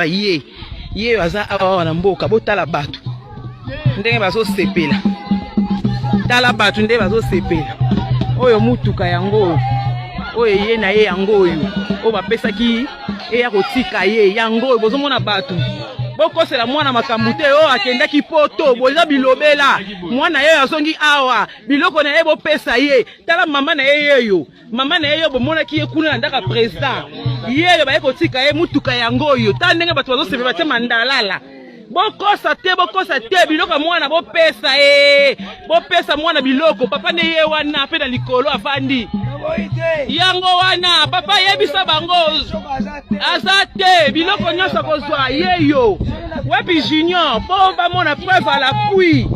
ye ye aza awa na mboka botala bato ndenge bazosepela tala bato nde bazosepela oyo motuka yango oyo eye na ye yango oyo oyo bapesaki eya kotika ye yango oyo bozomona bato bokosela mwana makambo te oyo oh, akendaki poto boza bilobela mwana ye azongi awa biloko na ye bopesa ye tala mama na ye yeyo mama na ye yo bomonaki ye kuna na ndako ya president ye oyo baye kotika ye motuka yango oyo ta ndenge bato bazosepela batye mandalala bokosa te bokosa te biloko ya mwana bopesa e bopesa mwana biloko papa nde ye wana mpe na likolo afandi yango wana papa yebisa bango aza te biloko nyonso akozwa ye yo wapi junior mpo bamona preuve à l'appui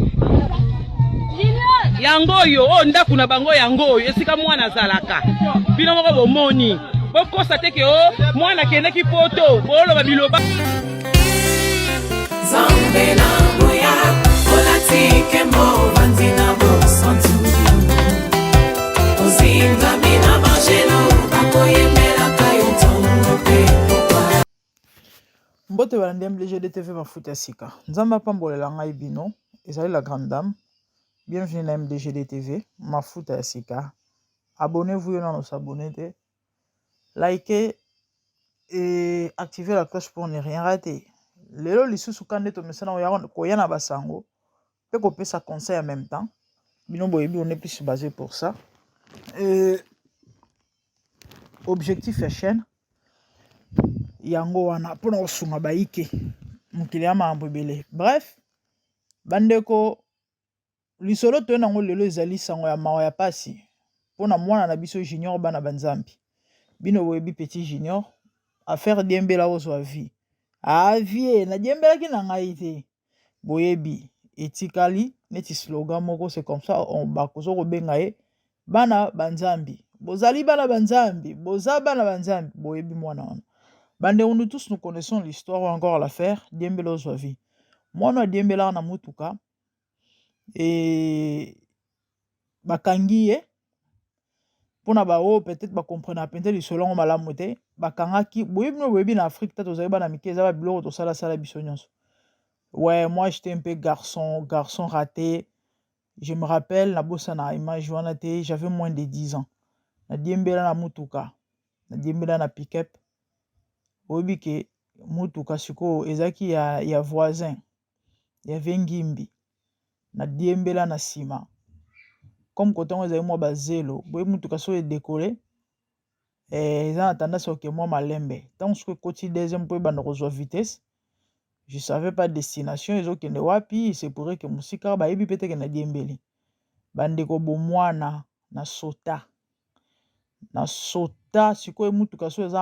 yango oyo oyo oh, ndako na bango yango oyo esika mwana azalaka bino moko bomoni bokosa te ke o oh, mwana akendaki poto booloba biloba mbote balandi mbleje de tv mafuta ya sika nzambe apambolela ngai bino ezali la grande dame bienvenue na mdg de tv mafuta ya sika abonnez-vous yo nano s'abonne te like et activer la cloche pour ne rien rater lelo lisusu ka nde tomesana koya na basango mpe kopesa conseil en même temps bino boyebi on est plus basé pour ça euh, objectif ya chaîne yango wana mpona kosunga bayike mokili ya makambo ebele bref bandeko Lisolo toye nango lelo ezali sango ya mawa ya pasi pona mwana na biso Junior bana ba Nzambe. Bino boyebi petit Junior affaire diembela ozwa vie. Ah vie na diembelaki na ngai te. Boyebi etikali neti slogan moko c'est comme ça on bakozo kobenga ye bana ba Nzambe. Bozali bana ba Nzambe, boza bana ba Nzambe, boyebi mwana wana. Bandeko nous tous nous connaissons l'histoire ou encore l'affaire diembela ozwa vie. Mwana diembela na mutuka bakangi ye mpona baoyo petete ba comprena mpenza lisolo yango malamu te bakangaki boyebi no boyebi na afrika te tozali bana mike eza babiloko tosalasala biso nyonso we moi jete mpe garçon garçon rate je me rappelle nabosana image wana te javais moins de 10 ans nadiembela na motuka nadiembela na pickup oyebi ke motuka sikoyo ezalaki ya, ya voisin ya Vengimbi na Diembela na sima comme kote yango ezali mwa bazelo boye motuka soki edekole eh, eza na tendance oke mwa malembe ntango soki ekoti deuxième mpo ebanda kozwa vitesse je savais pas destination ezokende wapi se pourrait ke mosika bayebi mpe teke na diembeli bandeko bomwana na sota na sota sikoyo motuka so eza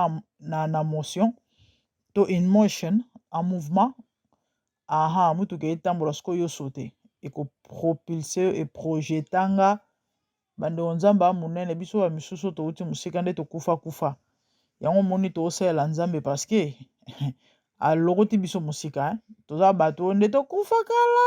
na motion to in motion en mouvement aha motuka etambola sikoyo yo sote ekopropulse yo eprojeta nga bandeko nzambe ya monene biso ba misusu touti mosika nde tokufa kufa yango omoni toosalela nzambe parceke alokoti biso mosika toza bato oyo nde tokufa kala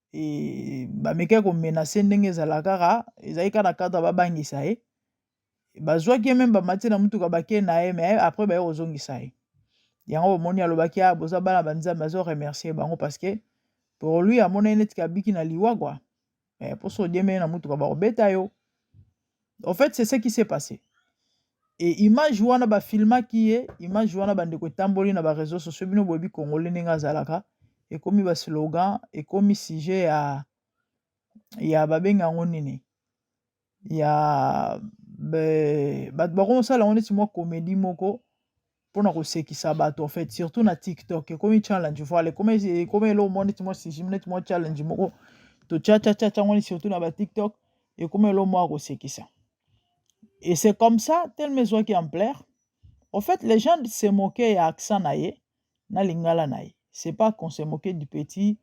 et ba mekaki ko menacer ndenge ezala kaka ezali kaka na cadre ba bangisa ye bazwaki ye meme bamati na motuka bake na ye mais après baye kozongisa ye yango bomoni alobaki ah boza bana ba nzambe azo remercier bango parce que pour lui amonaki neti kabiki na liwa kua eh, mposo odiembeli na motuka bakobeta yo en fait c'est ce qui s'est passé et image wana ba filmaki ye image wana ba ndeko etamboli na ba réseaux sociaux bino boyebi congolais ndenge azalaka ekomi ba slogan ekomi sujet ya ya babenga yango nini ya bato bakoma osala yango neti mwa komedi moko pona kosekisa bato en fait surtout na tiktok ekomi challenge voile ekomi ekomi eloko moko neti mwa sigime neti mwa challenge moko tochachachacha ngoni surtout na batiktok ekomi eloko moko ya kosekisa et c'est comme ça teleme ezwaki ampleur au fait les gens se moquer ya accent na ye na lingala na ye c'est pas qu'on se moquer du petit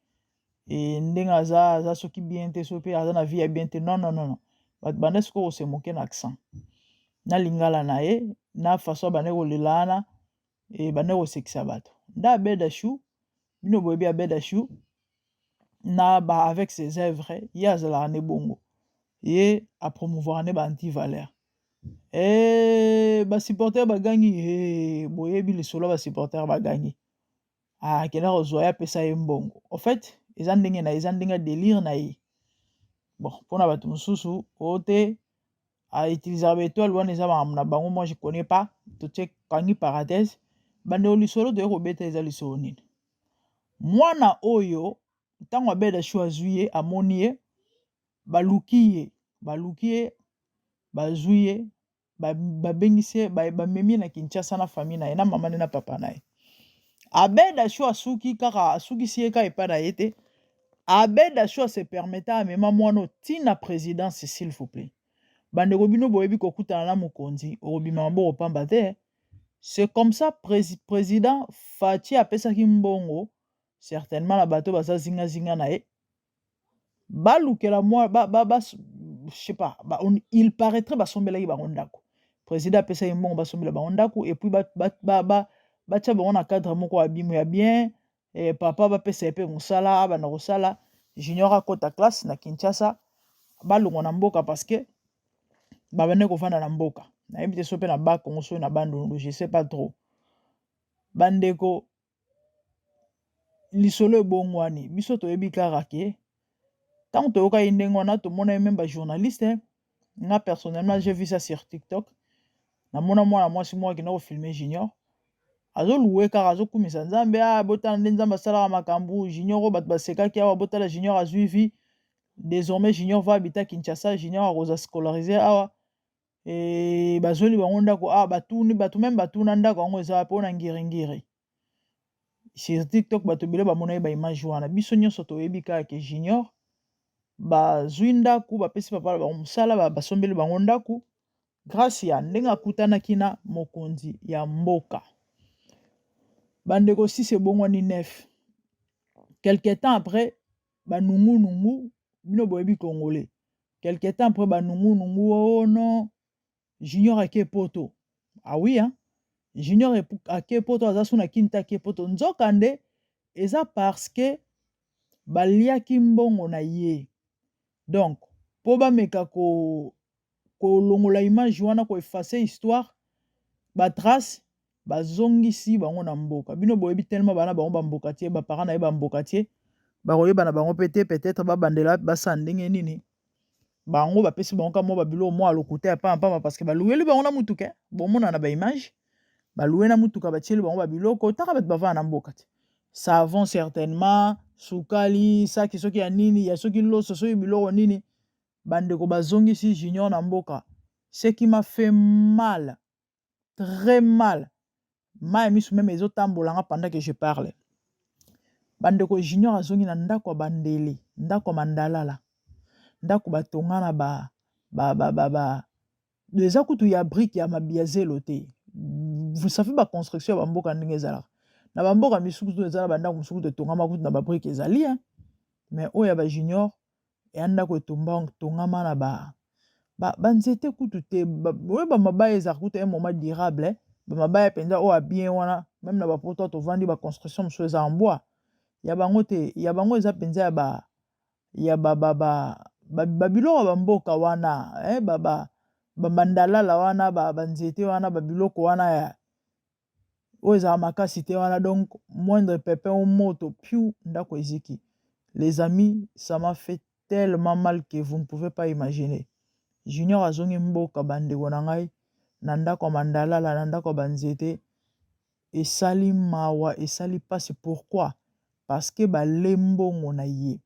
e, ndenge aza aza soki bien te soki mpe aza na vie ya bien te non non non bato banda sikoyo kosemoke na accent na lingala na ye na façon abandaki kolela wana ebandaki kosekisa bato nde abeda chou bino boyebi abeda chou na ba avec ses œuvres ye azalaka nde bongo ye apromouvoir nde ba antivaleur e eh, basupporter bagangi e eh, boyebi lisolo ya basupporter bagangi Ah, akenda kozwa ye apesa ye mbongo en fait eza ndenge na eza ndenge ya delire na ye bon mpona bato mosusu oyo te autilisaka baetoile wana eza makambo na bango moi je connais pas totie kangi parenthèse bandeko lisolo toye kobeta eza lisolo nini mwana oyo ntango abeda shu azwi ye amoni ye baluki ye baluki ye bazwi ye babengisi ye bamemi ye na kinshasa na famille na ye na mama ne na papa na ye abeda sho asuki kaka asukisi ye ka epai na ye te abeda sho se permeta amema mwana otina présidence s'il vous plaît bandeko bino boyebi kokutana na mokonzi okobima maboko pamba te c'est comme ça président faci apesaki mbongo certainement na bato baza zingazinga na ye balukela mwa ba, ba, ba, je sais pas ba, on, il paraîtrait basombelaki bango ndako président apesaki mbongo basombela bango ndako epuis batya ba, ba, ba, batya bango na cadre moko ya bimo ya bien eh, papa bapesa ye mpe mosala abanda kosala junior akota classe na kinshasa balongwa na mboka parce que babandaki kovanda na mboka nayebi te so mpe na bakongo soki na bandundu je sais pas trop bandeko lisolo ebongwani biso toyebi kaka ke ntango toyokaki ndenge wana tomonaki meme bajournaliste nga personnellement je vu ça sur tiktok namona mwana mwasi moko akenda kofilme junior azoluwe kaka azokumisa nzambe a ah, botala nde nzambe asalaka makambo junior oyo bato basekaki awa botala junior azwi vie désormais junior va habita kinshasa junior akoza scolarise awa e, bazweli bango ndako awa ah, batuni bato meme batuna ndako yango eza wapi ona ngiringiri sur tiktok bato ebele bamonaki baimage wana biso nyonso toyebi kaka ke junior bazwi ndako bapesi papa na bango mosala basombeli bango ndako grâce ya ndenge akutanaki na mokonzi ya mboka bandeko sisi ebongwani nef quelque temps après banungu nungu bino boyebi congolais quelque temps après banungu nungu oh non junior ake poto ah oui hein junior ake poto aza suna kinta ake poto nzoka nde eza parce que baliaki mbongo na ye donc mpo bameka ko kolongola image wana ko effacer histoire ba trace bazongisi bango na mboka bino boyebi tellement bana bango bambokatier baparent na ye bambokatier bakoyeba na bango mpe te peut-être babandela basala ndenge nini bango bapesi bango ka mwa babilo mwa alokuta ya pamba pamba parceke balueli bango na motuka eh. bomona na baimage balue na motuka batieli bango babiloko otaka bato bavana na mboka te savon certainement sukali saki soki ya nini ya soki loso soki biloko nini bandeko bazongisi junior na mboka seki ma fait mal très mal mai misu meme ezotambola nga pendant que je parle bandeko junior azongi na ndako ya bandele ndako ya mandalala ndako batonga na ba ba ba ba, ba eza kutu ya brike ya mabiya zelo te vous savez ba construction ya bamboka ndenge ezalaka na bamboka misusu eza na bandako mosusu totongama kutu na babrike ezali hein mais oyo ya bajunior ya ndako etongama na ba banzete kutu te oyo bamabaya ezala kutu ya moma durable eh. bamabaya mpenza oyo abien wana meme na bapoto tovandi baconstruction mosusu eza ambwa ya bango te ya bango eza mpenza ya ba ya babiloko ya bamboka wana eh, baba bamandalala wana banzete wana babiloko wana ya oyo ezala makasi te wana donc moindre pepin ou moto piu ndako eziki les amis ça m'a fait tellement mal que vous ne pouvez pas imaginer junior azongi mboka bandeko na ngai na ndako ya mandalala na ndako ya banzete esali mawa esali mpasi pourquoi parce que bale mbongo na ye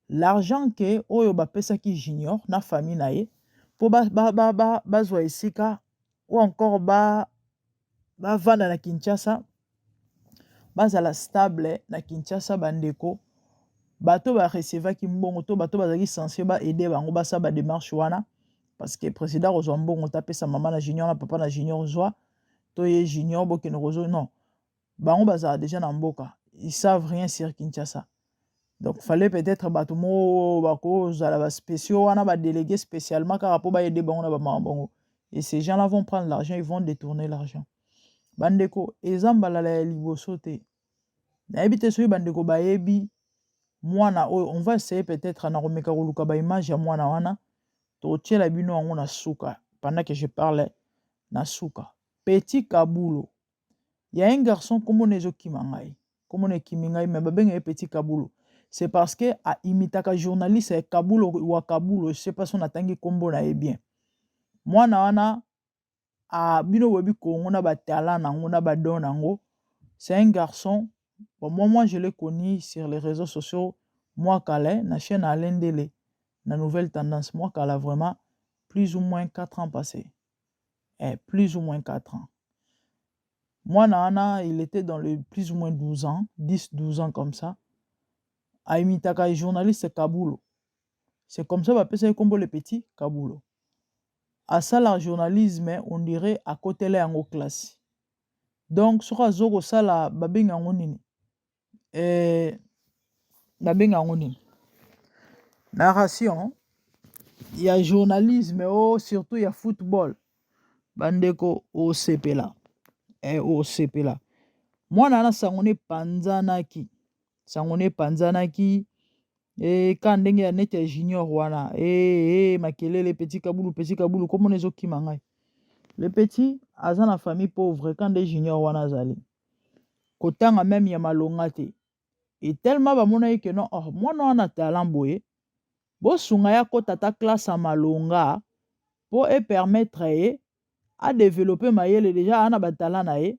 l'argent ke oyo bapesaki junior na famille na ye mpo bazwa ba, ba, ba, esika ou encore ba bavanda na Kinshasa bazala stable na Kinshasa bandeko bato ba recevaki mbongo to bato bazalaki sensible ba aide bango basala ba demarche wana parce que président kozwa mbongo tapesa mama na junior na papa na junior zwa to ye junior bokende kozwa non bango bazala deja na mboka ils savent rien sur Kinshasa donc fallait peut-être bato moko bakozala ba spéciaux wana ba délégué spécialement kaka mpo baede bango na bamama bango et ces gens là vont prendre l'argent ils vont détourner l'argent bandeko eza mbalala ya liboso te nayebi te soki bandeko bayebi mwana oyo on va essayer peut-être na komeka koluka ba image ya mwana wana tokotiela bino yango na suka pendant que je parle na suka petit kabulo Il y a un garçon kombo na ezo kima ngai. Kombo na ekimi ngai mais babenga ye petit kabulo. C'est parce que a imitaka journaliste ya kabulo wa kabulo, je sais pas son atangi kombo na ye bien. Mwana wana a bino boyebi Congo na ba talent na ngo na ba don na ngo. C'est un garçon. Bon, moi, moi, je l'ai connu sur les réseaux sociaux, moi, Calais, na chaîne Alain Dele, na nouvelle tendance, moi, Calais, vraiment, plus ou moins 4 ans passés. eh, plus ou moins 4 ans mwana wana il était dans le plus ou moins 12 ans 10 12 ans comme ça aimitaka journaliste kabulo c'est comme ça bapesaki nkombo le petit kabulo asala journalisme on dirait akotela yango classe donc soki azo kosala babengi yango nini eh, babenga yango nini narration ya journalisme o oh, surtout ya football bandeko osepela e eh, osepela mwana wana sango ne epanzanaki sango ne epanzanaki e ka ndenge ya neti ya junior wana e, e makelele petit kabulu petit kabulu komona ezokima ngai le petit aza na famille pauvre ka nde junior wana azali kotanga meme ya malonga te e tellement bamonaki ke non oh, mwana wana talent boye bosunga ye akota ata classe ya malonga mpo epermettre ye adevelope mayele deja aa na batala na ye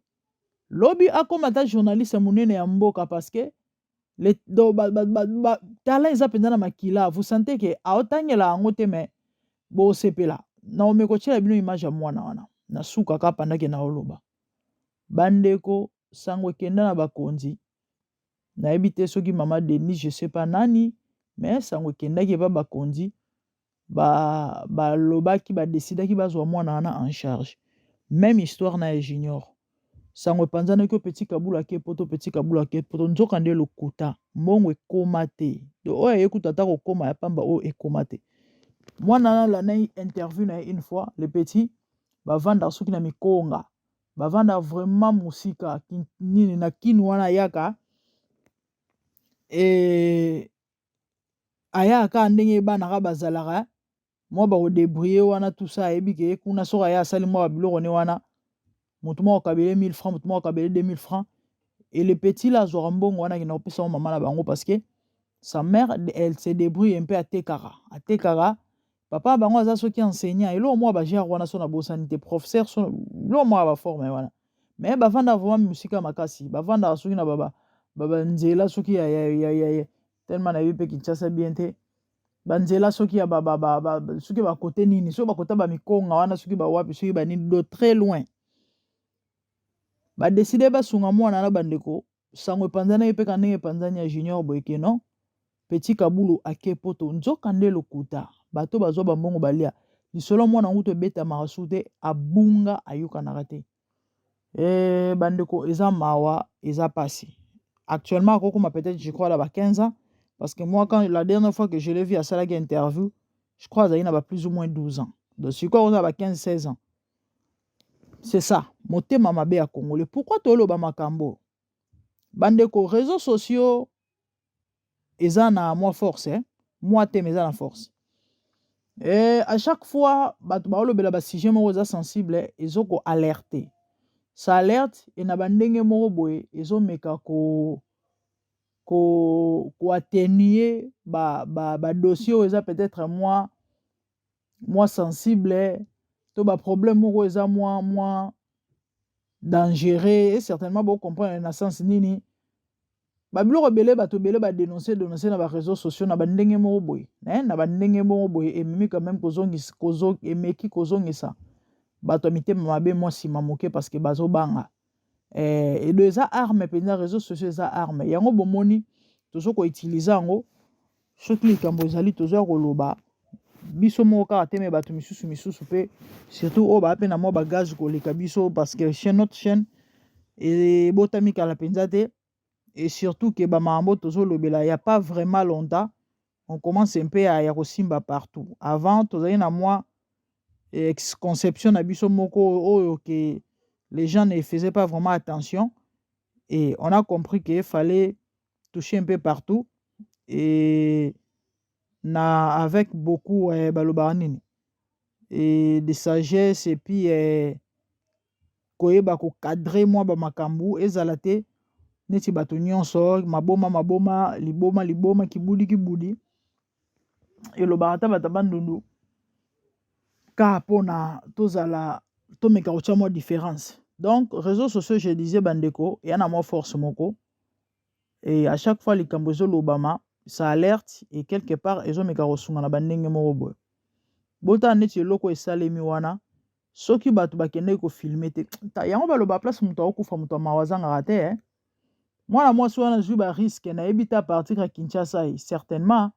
lobi akoma ata journaliste monene ya mboka parce que le, do, ba, ba, ba, ba, tala eza mpenza na makila vous sentez ke aotangela yango te mais bosepela naomi kotyela bino image ya mwana wana na suka ka pandake naoloba Bandeko sango ekenda na bakonzi nayebi te soki mama Denis je sais pas nani mais sango ekendaki epa bakonzi balobaki ba badesidaki bazwa mwana wana en charge même histoire na ya junior sango epanzanaki o petit kabula ke poto petit kabula ke poto nzoka nde lokuta mbongo ekoma te to oyo aye kuta ata kokoma ya pamba oyo ekoma te mwana wana lanai interview na ye une fois le petit bavandaka soki na mikonga bavanda vraiment mosika nini na kini wana ayaka e, ayaka kaka ndenge bana ka bazalaka mwa bakodebrie wana tusa ayebi ke kuna soki aya asali mwa babiloko ne wana motu moko kabele 1000 franc motu moko kabele 2000 franc e le petit la azwaka mbongo wana akenda kopesa yango mama na bango parce que sa mère elle se débrouille mpe atekaka atekaka papa bango aza soki enseignant eloko moko ba genre wana so na bosani te professeur so eloko moko ba forme wana mais bavanda vraiment musika makasi bavanda soki na baba baba nzela soki ya ya ya ya, ya. tellement na pe Kinshasa bien te banzela soki ya ba, ba, ba, ba, soki ba côté nini soki ba côté ba mikonga wana soki ba wapi soki ba nini de très loin ba décider ba sunga mwana na bandeko sango epanzani ye mpe ka ndenge epanzani ya junior boye ke non petit kabulu ake poto nzoka nde lokuta bato bazwa bambongo balia lisolo mwana yango to ebetamaka su te abunga ayokanaka te e, bandeko eza mawa eza pasi actuellement akokoma peut-être je crois la ba 15 ans parce que moi quand la dernière fois que je l'ai vu asalaki interview je crois azalaki na ba plus ou moins 12 ans donc sikoyo akozala ba 15 16 ans C'est ça, motema mabe ya Congolais. Pourquoi toloba makambo? Bandeko, réseaux sociaux eza na mwa force, eh? mwa te mais eza na force. Et à chaque fois, bato baolobela ba sujet moko eza sensible, ezo ko alerter. Ça alerte et na bandenge moko boye ezo meka ko ko ko atténuer ba ba ba dossier oyo eza peut-être mwa mwa sensible to ba problème moko eza mwa mwa dangereux et certainement bo comprendre na sens nini ba biloko ebele bato ebele ba denoncer denoncer na ba réseaux sociaux na ba ndenge moko boye eh, na ba ndenge moko boye ememi quand même kozongisa kozo emeki kozongisa bato ya mitema mabe mwa nsima moke parce que bazobanga eh, edo eza arme mpenza réseau sociaux eza arme yango bomoni tozo koutilize yango soki likambo ezali tozoya koloba biso moko kaka te me bato misusu misusu mpe surtout oyo baa mpe na mwa bagage koleka biso parce que chaîne notre chaîne ebotami kala mpenza te et surtout que bamambo tozolobela ya pas vraiment longtemps on commence un peu ya kosimba partout avant tozali na mwa eh, conception na biso moko oyo ke les gens ne faisaient pas vraiment attention et on a compris qu'il fallait toucher un peu partout et na avec beaucoup eh, balobaka nini et de sagesse et puis eh, koyeba ko cadre mwa ba makambu ezala te neti bato nyonso maboma maboma liboma liboma kibudi kibudi elobaka ata bato ya bandundu ka mpona tozala tomeka kotya mwa difference donc reseau sociaux je disais bandeko ya na mwa force moko e à chaque fois likambo ezolobama sa alerte e quelque part ezomeka kosunga na bandenge moko boye botala neti eloko esalemi wana soki bato bakendaki kofilme te yango baloba place moto akokufa moto ya mawa azangaka te eh? mwana mwasi wana azwi bariske nayebi te apartir ya kinshasa ye eh, certainement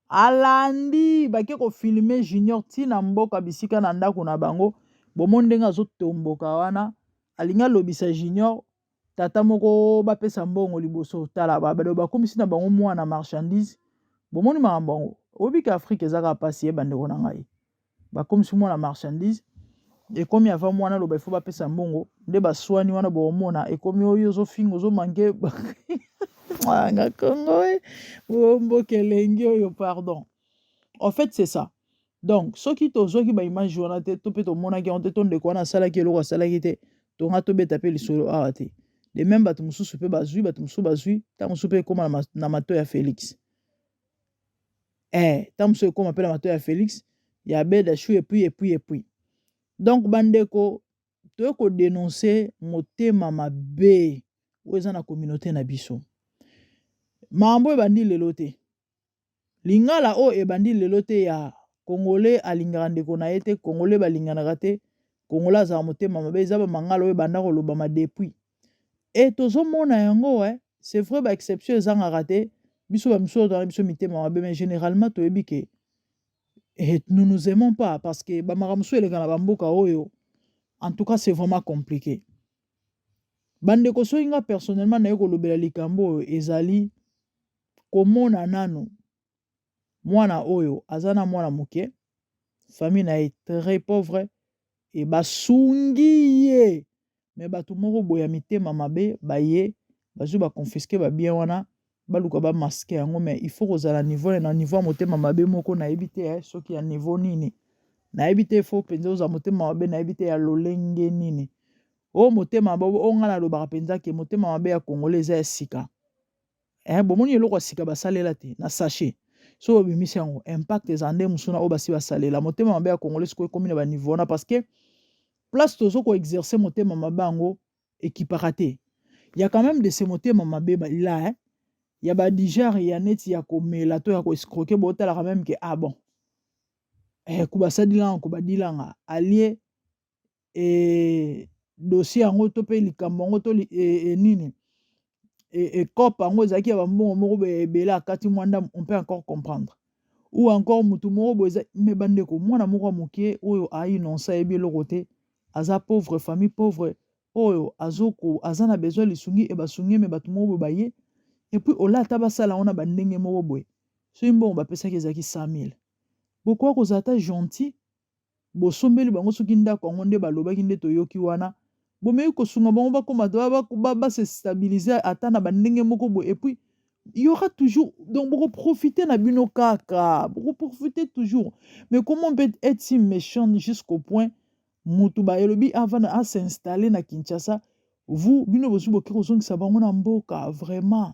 alandi bake kofilme junior ti na mboka bisika na ndako na bango bomoni ndenge azotomboka wana alingi alobisa junior tata moko bapesa mbongo liboso tala bakomisi na bango mwana marchandise bomoni makambo yango oyebi ke afrike ezaka mpasi ye bandeko na ngai bakomisi mwana marchandise ekomi ava mwana aloba ifo bapesa mbongo nde baswani wana bokomona ekomi oyo ozofinga ozomanke nga kongo eh. bomboka elengi oyo pardon en fait c'est ça donc soki tozwaki baimage wana te to mpe tomonaki yango te to ndeko wana asalaki eloko asalaki te tonga tobeta mpe lisolo awa te de meme bato mosusu mpe bazwi bato mosusu bazwi ntango mosusu mpe ekóma na mato ya félix eh, ntango mosusu ekóma mpe na mato ya félix ya beda chou epuis epuis epuis donc bandeko toye kodenonse motema mabe oyo eza na communauté na biso makambo ebandi lelo te Lingala oyo ebandi lelo te ya Congolais alingaka ndeko na ye te, Congolais balinganaka te, Congolais azala motema mabe, eza ba mangala oyo ebanda kolobama depuis. Et tozomona yango eh, c'est vrai ba exception ezangaka te, biso ba misusu tozala biso mitema mabe, mais generalement toyebi ke eh, nous nous aimons pas parce que ba makambo mosusu eleka na ba mboka oyo, en tout cas c'est vraiment compliqué. Bandeko soki nga personnellement naye kolobela likambo oyo ezali komona nanu mwana oyo aza na mwana moke famille na ye très pauvre e basungi ye me bato moko boye ya mitema mabe baye bazwi baconfiske babien wana baluka bamaske yango me il faut kozala niveau na niveau ya motema mabe moko nayebi te eh, soki ya niveau nini nayebi te fo mpenza ozala motema mabe nayebi te ya lolenge nini o motema mabe o ngai nalobaka mpenza ke motema mabe ya kongola eza ya sika eh, bomoni eloko ya sika basalela te na sachet so babimisi yango impact eza nde mosusu na oyo basi basalela motema mabe ya congolais sikoyo ekomi na baniveau wana parce que place tozo koexerce motema mabe yango ekipaka te ya quand même de se motema mabe la hein? ya badigere ya neti ya komela to ya koescroke botalaka meme ke ah bon eh, kubasadilanga kubadilanga alie e, dossier yango to mpe likambo yango to li, e, e, nini ekope yango ezalaki ya bambongo moko boye ebele akati mwa ndambo on peut encore comprendre ou encore motu moko boye eza me bandeko mwana moko ya moke oyo ainonce ayebi eloko te aza pauvre famille pauvre oyo azoko aza na besoin lisungi e basungi me bato moko boye baye epuis olata basala yango na bandenge moko boye soki mbongo bapesaki ezalaki 100 000 bokoki kozala ata gentil bosombeli bango soki ndako yango nde balobaki nde toyoki wana bomeki kosunga bango bakoma ba se stabiliser ata na bandenge moko boye epuis il y aura toujours donc boko profiter na bino kaka boko profiter toujours mais comment on peut être si méchant jusqu'au point mutu ba elobi avant à s'installer na Kinshasa vous bino bosu boki kozongisa bango na mboka vraiment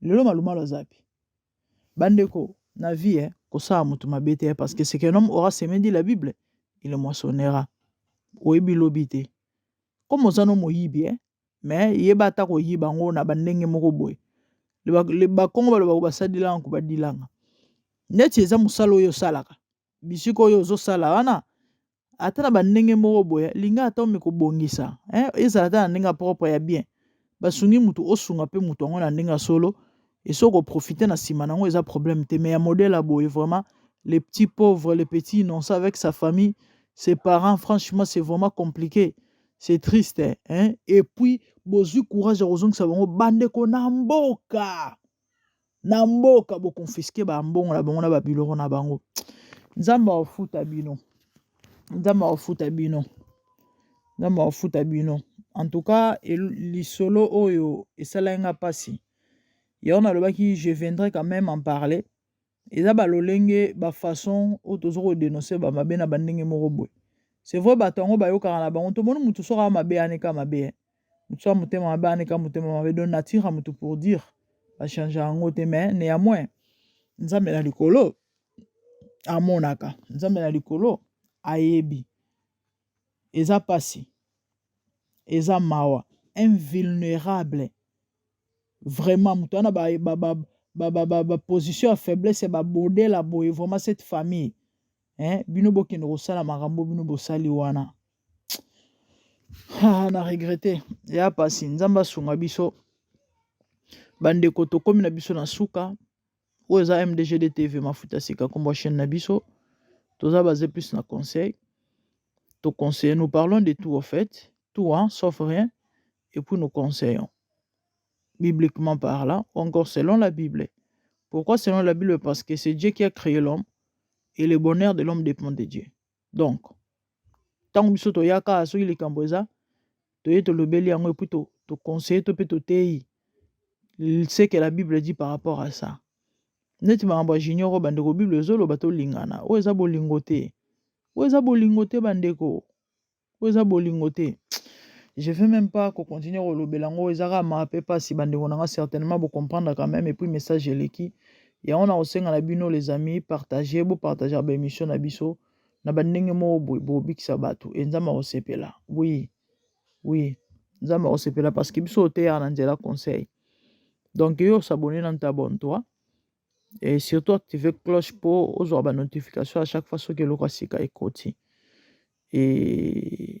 lelo malumalu aza wapi bandeko na vie eh, kosala moto mabe te eh, parce que ce qu'un homme aura semé dit la bible il moissonnera oyebi lobi te comme oza no moyibi eh, mais yeba ata koyiba yango na bandenge moko boye bakongo balobaka basalelaka nko badilanga neti eza mosala oyo osalaka bisika oyo ozosala wana ata na bandenge moko boye linga ata omeka kobongisa eh, ezala ata na ndenge ya propre ya bien basungi motu osunga mpe motu yango na ndenge ya solo esi okoprofite na nsima na yango eza problème te mais ya modèle ya boye vraiment le petit pauvre le petit innocent avec sa famille ses parents franchement c'est vraiment compliqué c'est triste hein? et puis bozwi courage ya kozongisa bango bandeko na mboka na mboka bo confisquer ba mbongo na bango na ba biloko na bango nzambe akofuta bino nzambe akofuta bino nzambe akofuta bino en tout cas lisolo oyo esalaki nga mpasi yango nalobaki je viendrai quand même en parler eza ba lolenge ba façon oyo tozo ko denoncer ba mabe na ba ndenge moko boye c'est vrai bato yango bayokaka na bango tomoni moto soki aa mabe aneka mabe eh. moto soki motema mabe aneka motema mabe donc nature ya moto pour dire bachange yango te mais néanmoins nzambe na likolo amonaka nzambe na likolo ayebi Eza pasi eza mawa un vulnerable vraiment moto wana ba, ba, ba, ba, ba, ba, ba position ya faiblesse ba bodela boye vraiment cette famille hein bino bokende kosala makambo bino bosali wana ah, na regrete ya pasi nzambe asunga biso bandeko tokomi na biso na suka oyo eza mdgd tv mafuta sika nkombo chaîne na biso toza base plus na conseil to conseille nous parlons de tout au fait tout hein, sauf rien et puis nous conseillons bibliquement parlant ou encore selon la bible pourquoi selon la bible parce que c'est dieu qui a créé l'homme et le bonheur de l'homme dépend de dieu donc ntango biso toyaka soki likambo eza toye tolobeli yango epui toconseille to mpe toteyi ce que la bible dit par rapport à ça neti makambo ya junior oyo bandeko bible ezoloba tolingana oyo eza bolingo te oyo eza bolingo te bandeko oyo eza bolingo te je veux même pas kocontinue kolobela yango eza kaka maa mpe mpasi bandeko na nga certainement bocomprendre quand même epuis message eleki yango na kosenga na bino les amis partage bopartagea baémission na biso na ba ndenge moko boye bobikisa bato e nzambe akosepela wi wi nzambe akosepela parce que biso oteyaka na nzela conseil donc yo osabone na ntabon toi et surtout active cloche mpo ozwa ba notification à chaque fois soki eloko ya sika ekoti e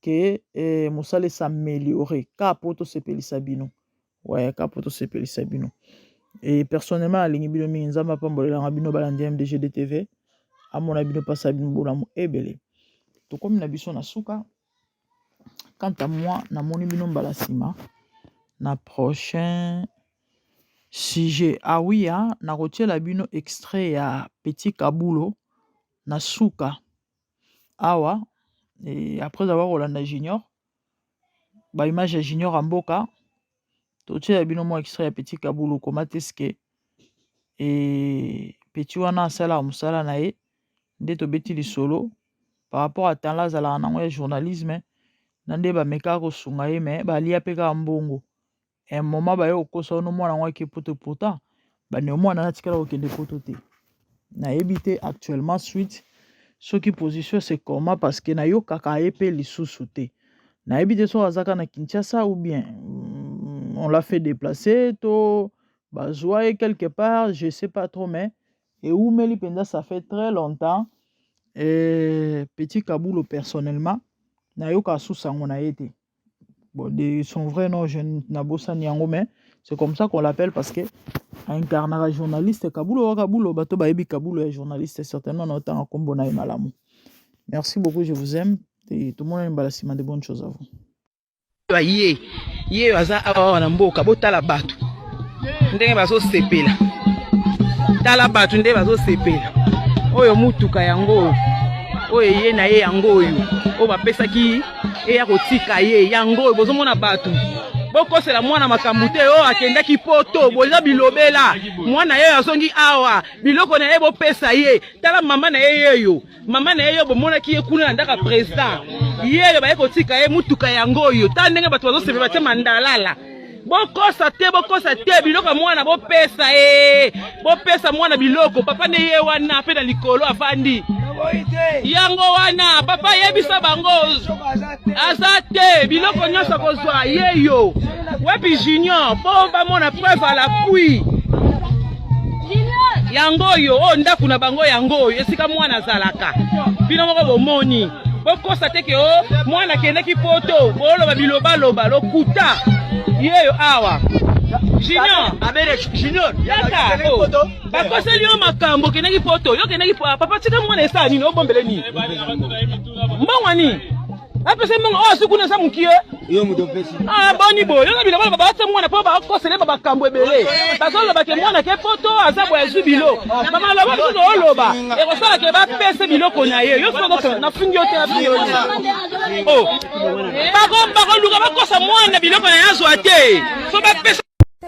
que eh, mosala esameliore ka po tosepelisa bino ouais, ka po tosepelisa bino e personnellement nalingi bino mingi nzambe apambolelanga bino balandi mdgd tv amona bino mpasa bino bolamu ebele tokomi na biso na suka quant à moi namoni bino mbala nsima na prochain sujet awia ah, nakotiela bino extrait ya petit kabulo na suka awa eh, après avoir kolanda junior ba image ya junior ya mboka totyela bino mwa extrait ya petit kabulu koma teske e eh, petit wana asalaka mosala na ye nde tobeti lisolo par rapport à temps la azalaka nango ya journalisme na nde bamekaka kosunga ye me balia mpe kaka mbongo un moment baye kokosa yo nomwana yango ake poto pourtant bandeko mwana natikala kokende poto te nayebi te actuellement suite soki position se comment parce que nayokaka ye mpe lisusu te nayebi te soki azaka na kinshasa ou bien mm, on l'a fait déplacer to bazwa ye quelque part je sais pas trop mais eumeli mpenza ça fait très longtemps et petit kabulo personnellement nayoka susango na ye te Bon, de son vrai nom, je n'abosani yango, mais c'est comme ça qu'on l'appelle parce que incarnaka journaliste kabulo wa kabulo bato bayebi kabulo ya journaliste certainement na otanga nkombo na ye malamu merci beaucoup je vous aime et tomonani mbala nsima de bonne chose à vous ye ye aza awa na mboka botala bato ndenge bazosepela tala bato nde bazosepela oyo motuka yango oyo eye na ye yango oyo oyo bapesaki eya kotika ye yango oyo bozomona bato bokosela mwana makambo te oyo oh, akendaki poto boza bilobela mwana ye azongi awa biloko na ye bopesa ye tala mama na ye yeyo mama na ye yo bomonaki ye kuna na ndaka president yeyo baye kotika ye motuka yango oyo ta ndenge bato bazosepela batye mandalala bokosa te bokosa te biloko ya mwana bopesa e bopesa mwana biloko papa nde ye wana mpe na likolo afandi yango wana papa yebisa bango aza te biloko nyonso akozwa ye yo wapi junior mpo bamona preuve à l'appui yango oyo oyo oh, ndako na bango yango oyo esika mwana azalaka bino moko bomoni bokosa te ke o oh, mwana akendaki poto booloba bilobaloba lokuta yeyo awa junior junior yaka oh, bakoseli yo makambo okendaki poto yo okendaki papa tika mwana esala nini obombele nini mbongo nini apesa mbongo oyo asuku na eza mokie yo moto opesi ah, boni boye yo na biloko loba batia mwana mpo bakoselema makambo ebele bazoloba ke mwana ke poto aza boye azwi bilo bamaloba biso tooloba ekosala ke bapese biloko na ye yo soko nafingi yo te abioni oh. bakoluka bakosa mwana biloko na ye azwa te so bapesa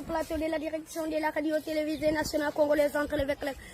plateau de la direction de la radio-télévisée nationale congolaise entre les